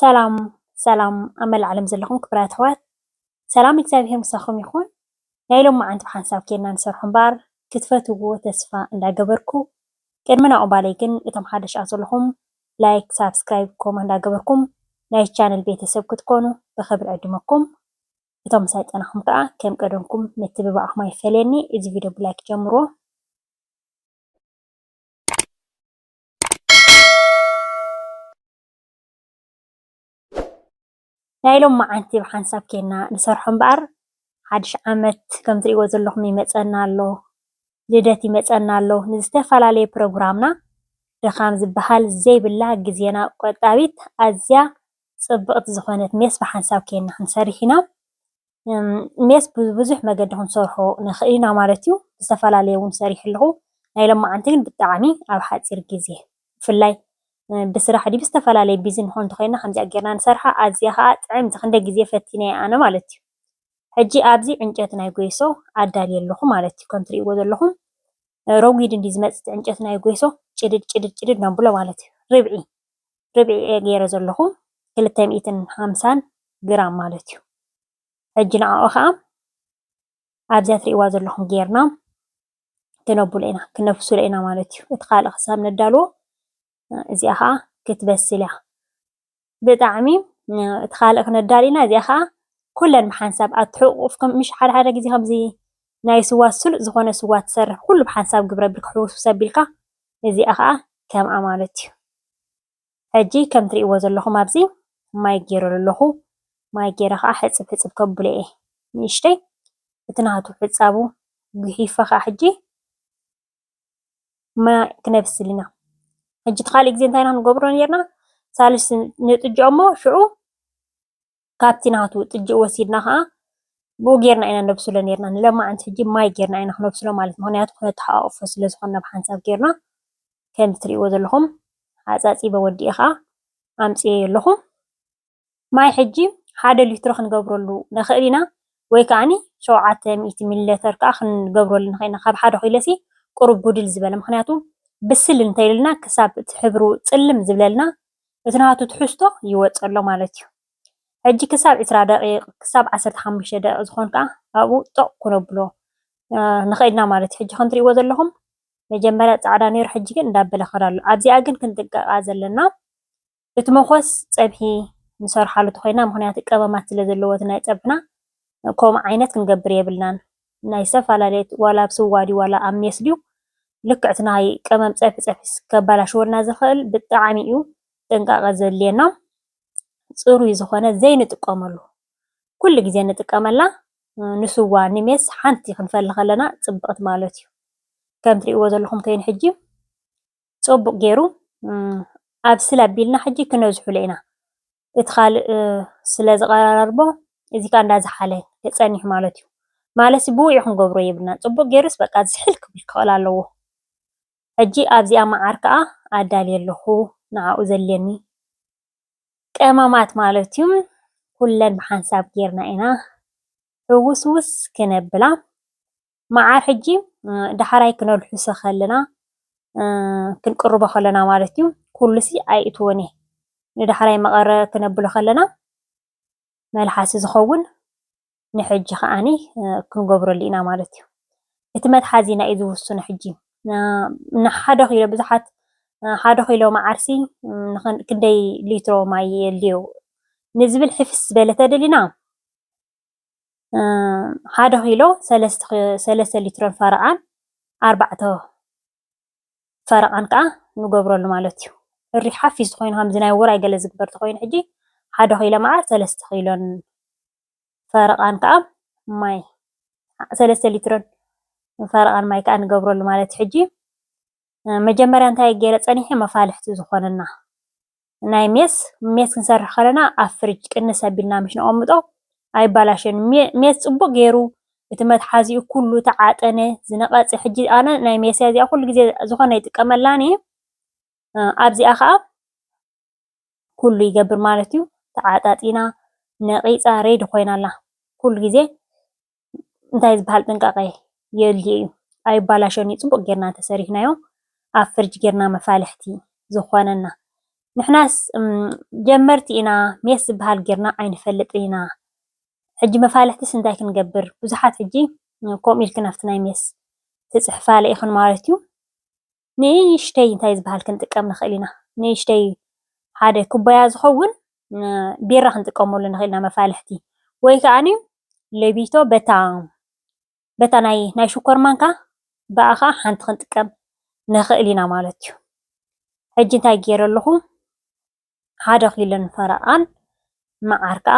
ሰላም ሰላም ኣብ መላእ ዓለም ዘለኹም ክብራት ኣሕዋት ሰላም እግዚኣብሔር ምሳኹም ይኹን። ናይ ሎማዓንቲ ብሓንሳብ ኬድና ንሰርሖ እምበር ክትፈትውዎ ተስፋ እንዳገበርኩ ቅድሚ ናዑባለይ ግን እቶም ሓደሽ ኣዘለኹም ላይክ ሳብስክራይብ ኮመ እንዳገበርኩም ናይ ቻነል ቤተሰብ ክትኮኑ ብኽብሪ ዕድመኩም እቶም ምሳይ ጸናኹም ከዓ ከም ቀደምኩም ምትብባዕኹም ኣይፈለየኒ እዚ ቪድዮ ብላይክ ጀምሮ ናይ ሎምዓንቲ ብሓንሳብ ኬና ንሰርሖ እምበኣር ሓድሽ ዓመት ከም ትሪእዎ ዘለኹም ይመፀና ኣሎ ልደት ይመፀና ኣሎ ንዝተፈላለየ ፕሮግራምና ድኻም ዝበሃል ዘይብላ ግዜና ቆጣቢት ኣዝያ ፅብቕቲ ዝኾነት ሜስ ብሓንሳብ ኬና ክንሰርሕ ኢና። ሜስ ብብዙሕ መገዲ ክንሰርሖ ንኽእል ኢና ማለት እዩ፡፡ ዝተፈላለየ እውን ሰሪሐ ኣለኹ፡፡ ናይ ሎማዓንቲ ግን ብጣዕሚ ኣብ ሓፂር ግዜ ብፍላይ ብስራሕ ድዩ ብዝተፈላለየ ቢዚ ንኾን እንተኾይንና ከምዚኣ ጌርና ንሰርሓ ኣዝያ ኻዓ ጥዕምቲ ክንደይ ግዜ ፈቲነያ ኣነ ማለት እዩ፡፡ ሕጂ ኣብዚ ዕንጨይቲ ናይ ጎይሶ ኣዳልየ ኣለኹ ማለት እዩ፡፡ ከምትሪእዎ ዘለኹም ረጒድ እንድዩ ዝመፅእ እቲ ዕንጨይቲ ናይ ጎይሶ ጭድድ ጭድድ ጭድድ ነብሎ ማለት እዩ፡፡ ርብዒ ርብዒ እየ ገይረ ዘለኹ ክልተ ሚእትን ሓምሳን ግራም ማለት እዩ ሕጂ ንዕኡ ከዓ ኣብዚያ ትሪእዋ ዘለኹም ጌርና ክነብሎ ኢና ክነፍስሎ ኢና ማለት እዩ እቲ ካልእ ክሳብ ነዳልዎ እዚኣ ከዓ ክትበስል እያ ብጣዕሚ እቲ ካልእ ክነዳል ኢና እዚኣ ከዓ ኩለን ብሓንሳብ ኣትሕቁፍ ምሽ ሓደ ሓደ ግዜ ከምዚ ናይ ስዋ ስሉጥ ዝኾነ ስዋ ትሰርሕ ኩሉ ብሓንሳብ ግብረ ቢል ክሕውስብስ ኣቢልካ እዚኣ ከኣ ከምኣ ማለት እዩ። ሕጂ ከም ትርእይዎ ዘለኹም ኣብዚ ማይ ጌረሉ ኣለኹ። ማይ ጌረ ከኣ ሕጽብ ሕጽብ ከብሎ እየ ንእሽተይ። እቲ ናቱ ሕጻቡ ጉሒፈ ከኣ ሕጂ ማይ ክነብስል ኢና። ሕጂ እቲ ካልእ ግዜ እንታይ ኢና ክንገብሮ ኔርና ሳልስ ንጥጅኦ'ሞ ሽዑ ካብቲ ናቱ ጥጅእ ወሲድና ከኣ ብኡ ጌርና ኢና ነብስሎ ኔርና ንለማዓንቲ ሕጂ ማይ ጌርና ኢና ክነብስሎ ማለት ምክንያቱ ክነተሓቃቅፎ ስለ ዝኮና ብሓንሳብ ጌርና ከምዚ ትሪእዎ ዘለኩም ኣጻጺበ ወዲኤ ከኣ ኣምጺኤዮ ኣለኩ ማይ ሕጂ ሓደ ሊትሮ ክንገብረሉ ንክእል ኢና ወይ ከኣኒ ሸውዓተ ሚእቲ ሚሊ ሌተር ከኣ ክንገብረሉ ንክእል ኢና ካብ ሓደ ኪሎሲ ቁሩብ ጉድል ዝበለ ምክንያቱ ብስል እንተ ኢሉልና ክሳብ እቲ ሕብሩ ጽልም ዝብለልና እቲ ናቱ ትሕዝቶ ይወጽእ ኣሎ ማለት እዩ። ሕጂ ክሳብ ዕስራ ደቂቕ ክሳብ ዓሰርተ ሓሙሽተ ደቂቕ ዝኾን ከኣ ኣብኡ ጦቕ ክነብሎ ንኽእል ኢና ማለት እዩ። ሕጂ ከም ትርእይዎ ዘለኹም መጀመርያ ጻዕዳ ነይሩ ሕጂ ግን እንዳበለ ክኸድ ኣሎ። ኣብዚኣ ግን ክንጥንቀቓ ዘለና እቲ መኾስ ጸብሒ ንሰርሓሉ ተኾይና ምኽንያቱ ቀመማት ስለ ዘለዎ እቲ ናይ ጸብሕና ከምኡ ዓይነት ክንገብር የብልናን። ናይ ዝተፈላለየት ዋላ ኣብ ስዋ ድዩ ዋላ ኣብ ሜስ ድዩ ልክዕት ናይ ቀመም ፀብሒ ፀብሒስ ከባላሽወልና ዝክእል ብጣዕሚ እዩ ጥንቃቀ ዘድልየና ፅሩይ ዝኮነ ዘይንጥቀመሉ ኩሉ ግዜ ንጥቀመላ ንስዋ ንሜስ ሓንቲ ክንፈሊ ከለና ፅብቅት ማለት እዩ ከም ትሪእዎ ዘለኩም ከይኑ ሕጂ ፅቡቅ ገይሩ ኣብስል ኣቢልና ሕጂ ክነዝሑሎ ኢና እቲ ካልእ ስለዝቐራርቦ እዚ ከኣ እንዳዘሓለ ክጸንሕ ማለት እዩ። ማለትሲ ብውዑይ ክንገብሮ የብልናን ጽቡቕ ጌሩስ በቃ ዝሕል ክብል ክኽእል ኣለዎ። ሕጂ ኣብዚኣ መዓር ከኣ ኣዳልየ ኣለኹ ንዓኡ ዘድልየኒ ቀመማት ማለት እዩ ኩለን ብሓንሳብ ጌርና ኢና ሕውስውስ ክነብላ። መዓር ሕጂ ዳሕራይ ክነልሕሶ ከለና ክንቅርቦ ከለና ማለት እዩ ኩሉሲ ኣይእትዎን እየ ንዳሕራይ መቐረ ክነብሎ ከለና መልሓሲ ዝኸውን ንሕጂ ከዓኒ ክንገብረሉ ኢና ማለት እዩ እቲ መትሓዚና እዩ ዝውስኖ ሕጂ ንሓደ ኪሎ ብዙሓት ሓደ ኪሎ መዓርሲ ክንደይ ሊትሮ ማይ የድልዮ ንዝብል ሕፍስ ዝበለ ተደሊና ሓደ ኪሎ ሰለስተ ሊትሮን ፈረቓን ኣርባዕተ ፈረቓን ከኣ ንገብረሉ ማለት እዩ። ሕሪ ሓፊስ ተኾይኑ ከምዚ ናይ ውራይ ገለ ዝግበር ተኾይኑ ሕጂ ሓደ ኪሎ መዓር ሰለስተ ኪሎን ፈረቓን ከኣ ማይ ሰለስተ ሊትሮን ፈረቓን ማይ ከኣ ንገብረሉ ማለት እዩ። ሕጂ መጀመርያ እንታይ ገይረ ጸኒሐ መፋልሕቲ ዝኾነና ናይ ሜስ ሜስ ክንሰርሕ ከለና ኣብ ፍርጅ ቅንስ ኣቢልና ምስ ነቐምጦ ኣይባላሸን ሜስ ጽቡቕ ጌሩ እቲ መትሓዚኡ ኩሉ እቲ ዓጠነ ዝነቐጸ ሕጂ ኣነ ናይ ሜስያ እዚኣ ኩሉ ግዜ ዝኾነ ይጥቀመላን እየ ኣብዚኣ ከኣ ኩሉ ይገብር ማለት እዩ ተዓጣጢና ነቒጻ ሬዲ ኮይና ኣላ ኩሉ ግዜ እንታይ ዝበሃል ጥንቃቐ የድልዮ እዩ? ኣይባላሾን እዩ ፅቡቕ ጌርና እንተሰሪሕናዮ ኣብ ፍርጅ ጌርና መፋልሕቲ ዝኾነና። ንሕናስ ጀመርቲ ኢና ሜስ ዝበሃል ጌርና ኣይንፈልጥን ኢና። ሕጂ መፋልሕትስ እንታይ ክንገብር? ብዙሓት ሕጂ ከምኡ ኢልክን ኣብቲ ናይ ሜስ ትፅሕፋለ ኢኽን ማለት እዩ። ንእሽተይ እንታይ ዝበሃል ክንጥቀም ንኽእል ኢና? ንእሽተይ ሓደ ኩባያ ዝኸውን ቢራ ክንጥቀመሉ ንኽእል ኢና መፋልሕቲ ወይ ከዓኒ ሌቢቶ በታ በታ ናይ ናይ ሽኮር ማንካ ብኣ ኸዓ ሓንቲ ክንጥቀም ንኽእል ኢና ማለት እዩ። ሕጂ እንታይ ገይረ ኣለኹ ሓደ ኪሎ ፈረቓን መዓር ከኣ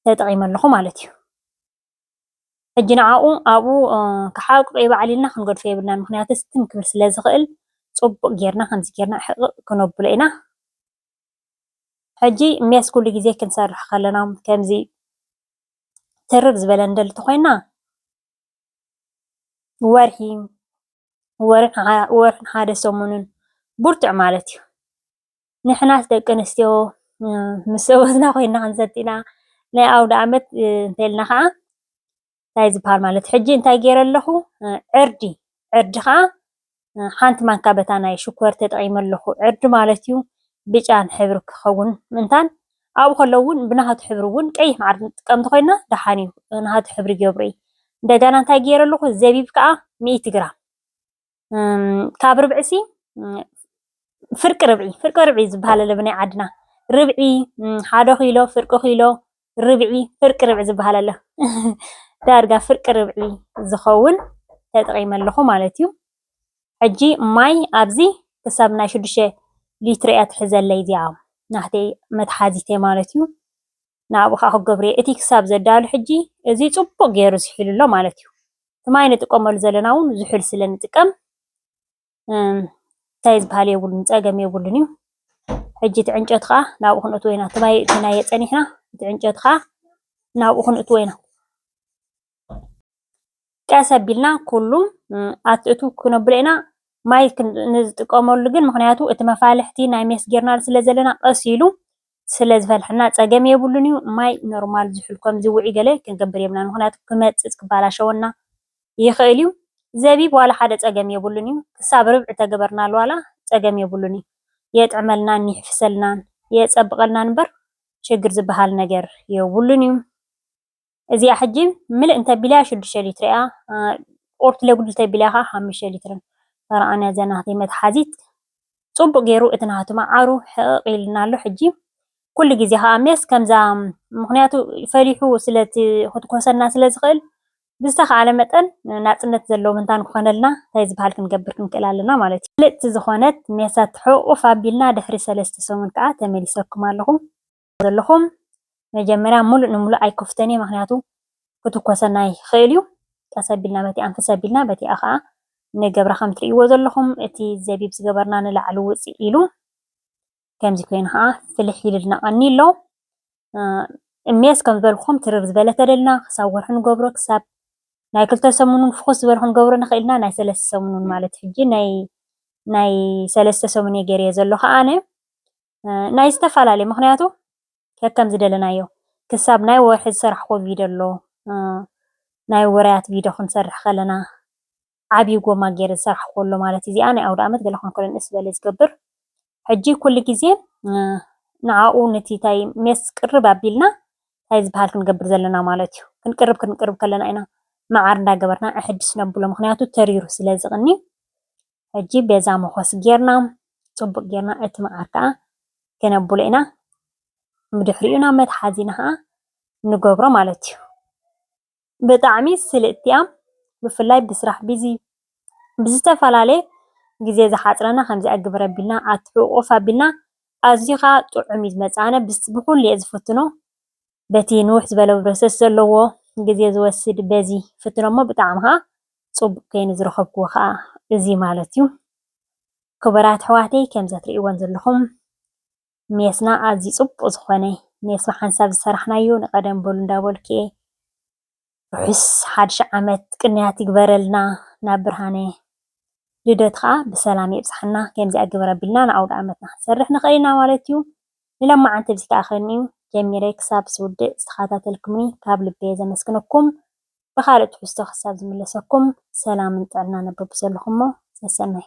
ተጠቒመ ኣለኹ ማለት እዩ። ሕጂ ንዓኡ ኣብኡ ክሓቕቕ ይበዓል ኢልና ክንገድፎ የብልናን፣ ምኽንያቱስ ትም ክብል ስለ ዝኽእል ጽቡቕ ጌርና ከምዚ ጌርና ሕቕቕ ክነብሎ ኢና። ሕጂ ሜስ ኩሉ ግዜ ክንሰርሕ ከለና ከምዚ ትርር ዝበለ ንደሊ ተኾይንና ወርሒ ወርሕን ሓደ ሰሙንን ብርቱዕ ማለት እዩ። ንሕናስ ደቂ ኣንስትዮ ምስ ሰበትና ኮይና ክንሰቲ ኢና ናይ ኣውደኣመት እንተልና ከዓ እንታይ ዝበሃል ማለት ሕጂ እንታይ ገይረ ኣለኹ ዕርዲ ዕርዲ ከዓ ሓንቲ ማንካ በታ ናይ ሽኮር ተጠቒመ ኣለኹ ዕርዲ ማለት እዩ ብጫን ሕብሪ ክኸውን ምእንታን ኣብኡ ከለዉ እውን ብናሃቱ ሕብሪ እውን ቀይሕ መዓር ንጥቀም እንተኮይና ደሓን እዩ ናሃቱ ሕብሪ ገብሩ እዩ እንደገና እንታይ ገይረ ኣለኹ ዘቢብ ከዓ ሚእቲ ግራም ካብ ርብዒሲ ፍርቂ ርብዒ ፍርቂ ርብዒ ዝበሃል ኣሎ ብናይ ዓድና ርብዒ ሓደ ኪሎ ፍርቂ ኪሎ ርብዒ ፍርቂ ርብዒ ዝበሃል ኣሎ ዳርጋ ፍርቂ ርብዒ ዝኸውን ተጠቒመ ኣለኹ ማለት እዩ ሕጂ ማይ ኣብዚ ክሳብ ናይ ሽዱሽተ ሊትሮ እያ ትሕዘለይ እዚኣ ናህተይ መትሓዚተ ማለት እዩ ናብኡ ከዓ ክገብርየ እቲ ክሳብ ዘዳሉ ሕጂ እዚ ፅቡቅ ገይሩ ዝሒሉ ኣሎ ማለት እዩ እቲ ማይ ንጥቀመሉ ዘለና እውን ዝሑል ስለ ንጥቀም እንታይ ዝበሃል የብሉን፣ ፀገም የብሉን እዩ። ሕጂ እቲ ዕንጨት ከዓ ናብኡ ክንእትዎ ኢና። እቲ ማይ እቲናዮ ፀኒሕና እቲ ዕንጨት ከዓ ናብኡ ክንእትዎ ኢና። ቀስ ኣቢልና ኩሉ ኣትእቱ ክነብሎ ኢና። ማይ ንዝጥቀመሉ ግን ምክንያቱ እቲ መፋልሕቲ ናይ ሜስ ጌርናሉ ስለ ዘለና ቀስ ኢሉ ስለ ዝፈልሐና ፀገም የብሉን እዩ ማይ ኖርማል ዝሑል ከምዚ ውዑይ ገለ ክንገብር የብልናን ምክንያቱ ክመፅፅ ክባላሸወና ይክእል እዩ ዘቢብ ዋላ ሓደ ፀገም የብሉን እዩ ክሳብ ርብዒ ተገበርናሉ ዋላ ፀገም የብሉን እዩ የጥዕመልናን ይሕፍሰልናን የፀብቀልናን እምበር ችግር ዝባሃል ነገር የብሉን እዩ። እዚኣ ሕጂ ምልእ እንተቢለያ ሽዱሽተ ሊትሪ እያ ኦርት ለጉድ እንተቢለያ ከዓ ሓሙሽተ ሊትሪ ተረኣነ እዛ ናተይ መትሓዚት ፅቡቅ ገይሩ እቲ ናቱ መዓሩ ሕቕቕ ኢልና ኣሎ ሕጂ ኩሉ ግዜ ከዓ ሜስ ከምዛ ምክንያቱ ፈሊሑ ስለ ክትኮሰና ስለ ዝኽእል ብዝተኻለ መጠን ናፅነት ዘለዎ ምንታን ክኾነልና እንታይ ዝበሃል ክንገብር ክንክእል ኣለና ማለት እዩ። ምልእቲ ዝኾነት ሜሳት ሕቑፍ ኣቢልና ድሕሪ ሰለስተ ሰሙን ከዓ ተመሊሰኩም ኣለኹ። ዘለኹም መጀመርያ ሙሉእ ንሙሉእ ኣይከፍቶን እየ ምኽንያቱ ክትኮሰና ይኽእል እዩ ቀስ ኣቢልና በቲ ኣንፍስ ኣቢልና በቲኣ ከዓ ንገብራ ከም ትርእይዎ ዘለኹም እቲ ዘቢብ ዝገበርና ንላዕሊ ውፅእ ኢሉ ከምዚ ኮይኑ ከዓ ፍልሕ ኢሉልና ቀኒ ኣሎ እሜስ ከም ዝበልኩም ትርር ዝበለ ተደልና ክሳብ ወርሒ ንገብሮ ክሳብ ናይ ክልተ ሰሙንን ፍኹስ ዝበለ ክንገብሮ ንኽእል ኢና ናይ ሰለስተ ሰሙንን ማለት ሕጂ ናይ ናይ ሰለስተ ሰሙን እየ ገይረዮ ዘለኹ ኣነ ናይ ዝተፈላለየ ምክንያቱ ከከም ዝደለናዮ ክሳብ ናይ ወርሒ ዝሰራሕክዎ ቪድዮ ኣሎ ናይ ውራያት ቪድዮ ክንሰርሕ ከለና ዓብዪ ጎማ ገይረ ዝሰራሕክዎ ኣሎ ማለት እዩ። እዚኣ ናይ ኣውደኣመት ገለ ክኾን ከሎ ንእስ ዝበለ ዝገብር ሕጂ ኩሉ ግዜ ንዓኡ ነቲ ታይ ሜስ ቅርብ ኣቢልና ታይ ዝበሃል ክንገብር ዘለና ማለት እዩ። ክንቅርብ ክንቅርብ ከለና ኢና መዓር እንዳገበርና ኣሕድስ ነብሎ ምክንያቱ ተሪሩ ስለ ዝቕኒ ሕጂ በዛ መኾስ ጌርና ጽቡቅ ጌርና እቲ መዓር ከኣ ከነብሎ ኢና ብድሕሪኡ ናብ መትሓዚና ከኣ ንገብሮ ማለት እዩ። ብጣዕሚ ስልጥቲ እያ ብፍላይ ብስራሕ ቢዚ ብዝተፈላለየ ግዜ ዝሓጽረና ከምዚኣ ግብር ኣቢልና ኣትሕቁቁፍ ኣቢልና ኣዝዩ ከኣ ጥዑም እዩ ዝመጽእ ኣነ ብኩሉ እየ ዝፍትኖ በቲ ንውሕ ዝበለ ፕሮሰስ ዘለዎ ግዜ ዝወስድ በዚ ፍትኖ እሞ ብጣዕሚ ከኣ ጽቡቅ ከይኑ ዝረከብክዎ ከኣ እዚ ማለት እዩ ክቡራት ኣሕዋተይ ከምዚ ኣትርእይዎን ዘለኩም ሜስና ኣዝዩ ጽቡቅ ዝኮነ ሜስ ብሓንሳብ ዝሰራሕናዩ ንቀደም በሉ እንዳበልኩ እየ ርሑስ ሓድሽ ዓመት ቅንያት ይግበረልና ናብ ብርሃነ ልደት ከኣ ብሰላም የብጽሓና ከምዚኣ ግበር ኣቢልና ንኣውድኣመትና ክንሰርሕ ንኽእል ኢና ማለት እዩ ንሎማዓንቲ ብዚ ከኣ ከኒዩ ጀሚረ ክሳብ ዝውድእ ዝተኻታተልኩምኒ ካብ ልበየ ዘመስግነኩም ብኻልእ ትሕዝቶ ክሳብ ዝምለሰኩም ሰላምን ጥዕናን ኣበብዘለኹሞ ሰሰናዩ።